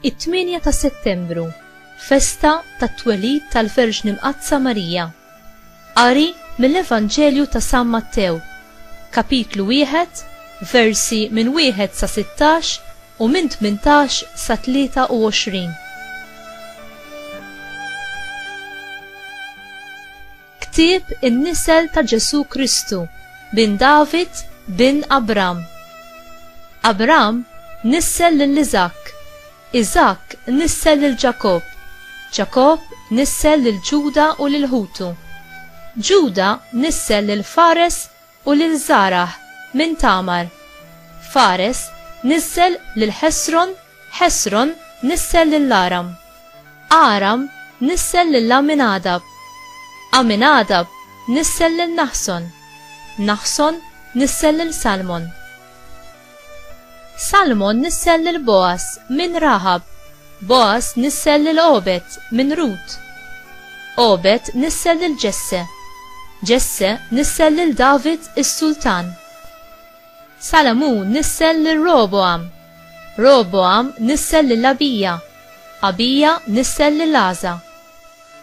It-8 ta' Settembru, festa tat-twelid tal-Verġni Mqaddsa Marija. Qari mill-Evanġelju ta' San Mattew, kapitlu wieħed, versi minn wieħed sa 16 u minn 18 sa 23. Ktieb in-nisel ta' Ġesù Kristu, bin David, bin Abram. Abram nissel lil Iżakk, Iżakk nissel lil Ġakobb, Ġakobb nissel lil Ġuda u lil ħutu. Ġuda nissel lil Fares U lil Żarah minn Tamar, Fares niżżel lil Ħesron, Ħesron niżżel lil Aram, Aram niżżel lil Għaminadab, Għaminadab niżżel lil Naħson, Naħson niżżel lil Salmon. Salmon nissel lil Bogħaż minn Raħab, Bogħaż nissel lil Għobed minn Rut. Għobed nissel lil Ġesse, Ġesse nissel lil David is-sultan. Salamun nissel lil Rogħbogħam, Rogħbogħam nissel lil Abija, Abija nissel lil Għaża,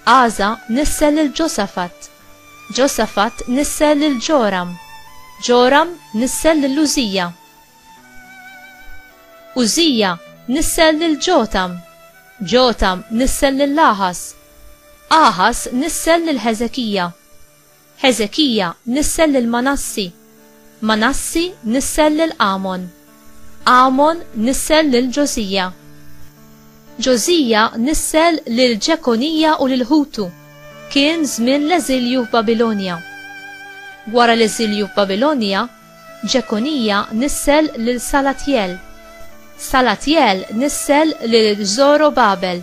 Għaża nissel lil Ġosafat, Ġosafat nissel lil Ġoram. Ġoram nissel lil Użija. Użija nissel lil Ġotam. Ġotam nissel lil Aħas. Aħas nissel lil Ħeżekija. Ħeżekija nissel lil Manassi. Manassi nissel lil Għamon. Għamon nissel lil Ġożija. Ġożija nissel lil Ġekonija u lil ħutu. Kien żmien l-eżilju f'Babilonja. Wara l-eżilju f'Babilonja, Ġekonija nissel lil Salatjel. Salatjel nissel lil Żorobabel.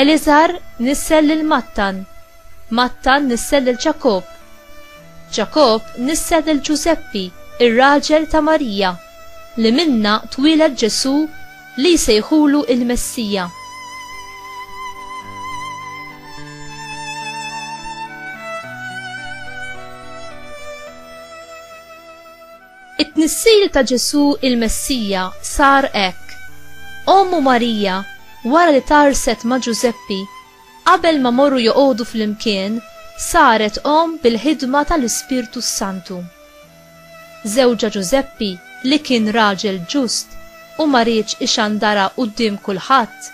Eliżar nissel lil Mattan, Mattan nissel lil Ġakobb, Ġakobb nissel lil Ġużeppi, ir-raġel ta' Marija, li minnha twieled Ġesù li jsejħulu l-Messija. It-tnissil ta' Ġesù il-Messija sar hekk. Ommu Marija, wara li tgħarrset ma' Ġużeppi, qabel ma morru joqogħdu flimkien, saret omm bil-ħidma tal-Ispirtu s-Santu. Żewġha Ġużeppi, li kien raġel ġust u ma riedx ixandarha quddiem kulħadd,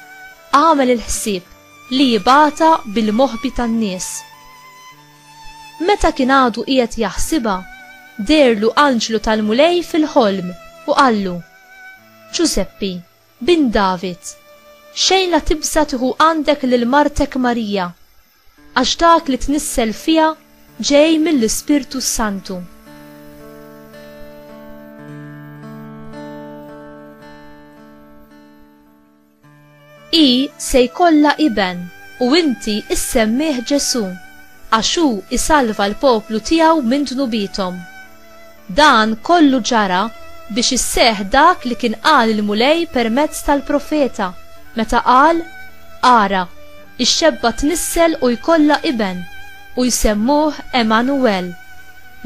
għamel il-ħsieb li jibgħatha bil-moħbi tan-nies. Meta kien għadu qiegħed jaħsibha, deherlu anġlu tal-Mulej fil-ħolm u qallu, Ġużeppi, bin David, xejn la tibża' tieħu għandek lil martek Marija, għax dak li tnissel fiha ġej mill-Ispirtu s-Santu. Hi se jkollha iben, u inti issemmih Ġesù, għax hu jsalva l-poplu tiegħu minn dnubiethom. Dan kollu ġara biex isseħħ dak li kien qal il-Mulej permezz tal-profeta, meta qal, Ara, ix-xebba tnissel u jkollha iben, u jsemmuh Għemanuwel,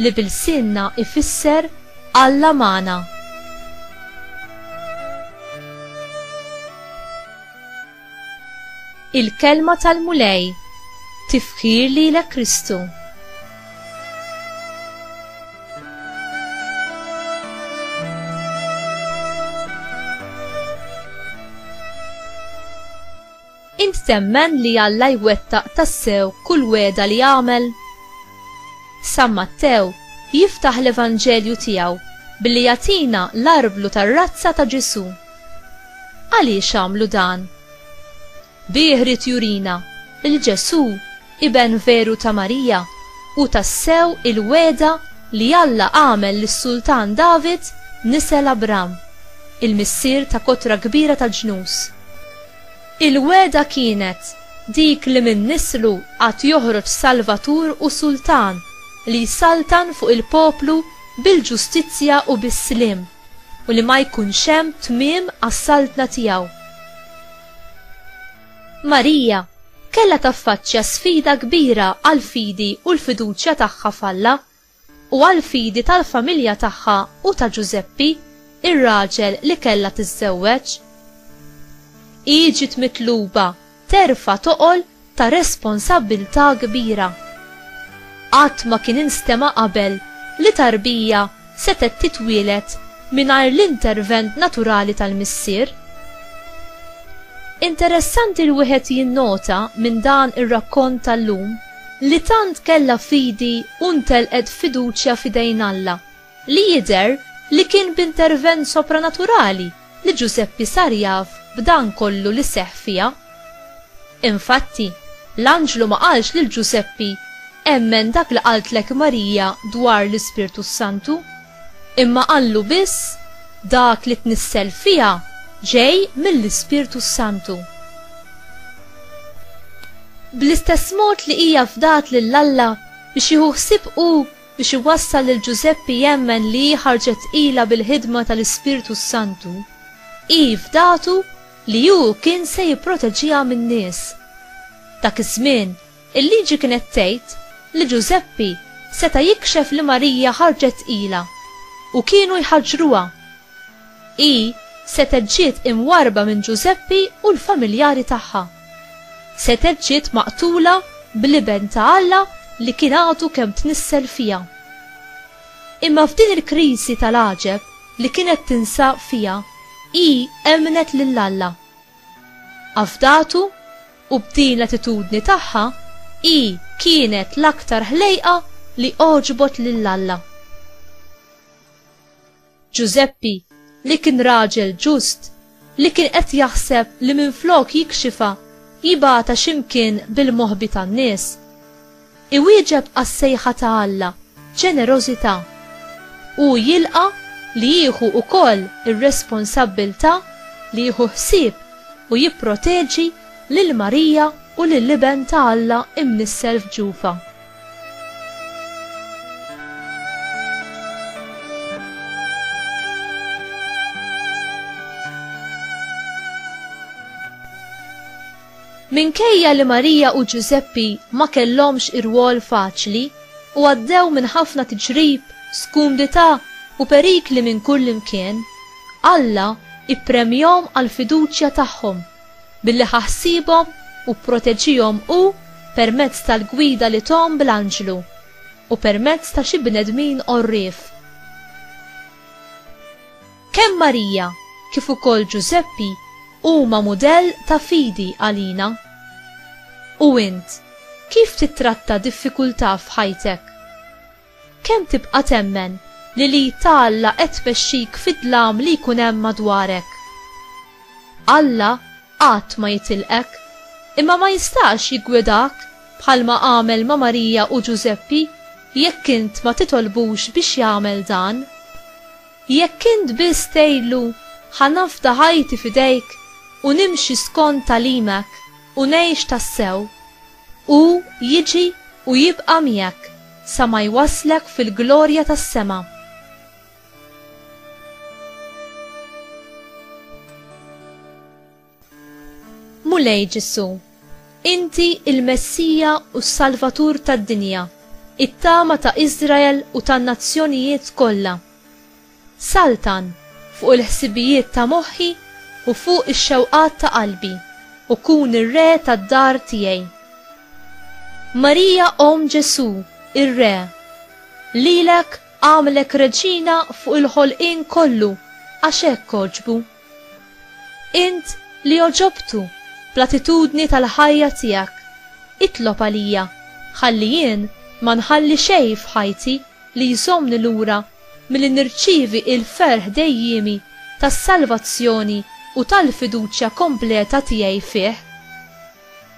li b'ilsienna jfisser Alla magħna. Il-kelma tal-Mulej tifħir li l Kristu. Int temmen li Alla jwettaq tassew kull wegħda li għamel? San Mattew jiftaħ l-Evanġelju tiegħu billi jagħtina l-arblu tar-razza ta' Ġesù. Għaliex għamlu dan? Bih ried jurina li Ġesù Iben veru ta' Marija, hu tassew il-wegħda li Alla għamel lis-Sultan David nisel Abram, il-missier ta' kotra kbira ta' ġnus. Il-wegħda kienet dik li minn nislu għad joħroġ Salvatur u Sultan li jsaltan fuq il-poplu bil-ġustizzja u bis-sliem, u li ma jkunx hemm tmiem għas-saltna tiegħu. Marija kellha taffaċċja sfida kbira għall-fidi u l-fiduċja tagħha f'Alla, u għall-fidi tal-familja tagħha u ta' Ġużeppi, ir-raġel li kellha tiżżewweġ. Hi ġiet mitluba terfa' toqol ta' responsabbiltà kbira. Qatt ma kien instema' qabel li tarbija setgħet titwieled mingħajr l-intervent naturali tal-missier? Interessanti li wieħed jinnota minn dan ir-rakkont tal-lum li tant kellha fidi u ntelqet fiduċja f'idejn Alla, li jidher li kien b'intervent sopranaturali li Ġużeppi sar jaf b'dan kollu li seħħ fiha. Infatti, l-anġlu ma qalx lil Ġużeppi, Emmen dak li qaltlek Marija dwar l-Ispirtu s-Santu, imma qallu biss, Dak li tnissel fiha ġej mill-Ispirtu s-Santu. Bl-istess mod li hija fdat lil Alla biex jieħu ħsieb hu biex iwassal lil Ġużeppi jemmen li hi ħarġet tqila bil-ħidma tal-Ispirtu s-Santu, hi fdatu li hu kien se jipproteġiha min-nies. Dak iż-żmien, il-Liġi kienet tgħid li Ġużeppi seta' jikxef li Marija ħarġet tqila, u kienu jħaġġruha. Hi setgħet ġiet imwarrba minn Ġużeppi u l-familjari tagħha. Setgħet ġiet maqtula bl-Iben ta' Alla li kien għadu kemm tnissel fiha. Imma f'din il-kriżi tal-għaġeb li kienet tinsab fiha hi emmnet lil Alla. Afdatu u b'din l-attitudni tagħha hi kienet l-aktar ħlejqa li għoġbot lil Alla. Ġużeppi, li kien raġel ġust, li kien qed jaħseb li minflok jikxifha, jibgħatha xi mkien bil-moħbi tan-nies. Iwieġeb għas-sejħa ta' Alla b'ġenerożità. Hu jilqa' li jieħu wkoll ir-responsabbiltà li jieħu ħsieb u jipproteġi lil Marija u lill-Iben ta' Alla imnissel f'ġufha. Minkejja li Marija u Ġużeppi ma kellhomx irwol faċli u għaddew minn ħafna tiġrib, skumdità u perikli minn kull imkien, Alla ippremjhom għall-fiduċja tagħhom Billi ħa ħsiebhom u pproteġihom hu permezz tal-gwida li thom bl-anġlu u permezz ta' xi bnedmin għorrief. Kemm Marija kif ukoll Ġużeppi huma mudell ta' fidi għalina. U int, kif tittratta diffikultà f'ħajtek? Kemm tibqa' temmen li l-id ta' Alla qed tmexxik fid-dlam li jkun hemm madwarek? Alla qatt ma jitilqek, imma ma jistax jiggwidak bħalma għamel ma' Marija u Ġużeppi jekk int ma titolbux biex jagħmel dan. Jekk int biss tgħidlu, Ħa nafda ħajti f'idejk u nimxi skont tagħlimek u ngħix tassew. Hu jiġi u jibqa' miegħek sa ma jwasslek fil-glorja tas-sema. Mulej Ġesù, inti l-Messija u s-Salvatur tad-dinja, it-tama ta' Iżrael u tan-nazzjonijiet kollha. Saltan fuq il-ħsibijiet ta' moħħi u fuq ix-xewqat ta' qalbi, u kun ir-re tad-dar tiegħi. Marija Omm Ġesù, ir-Re, lilek għamlek reġina fuq il-ħolqien kollu għax hekk għoġbu. Int li għoġobtu bl-attitudni tal-ħajja tiegħek, itlob għalija, ħalli jien ma nħalli xejn f'ħajti li jżommni lura milli nirċievi l-ferħ dejjiemi tas-salvazzjoni u tal-fiduċja kompleta tiegħi fih.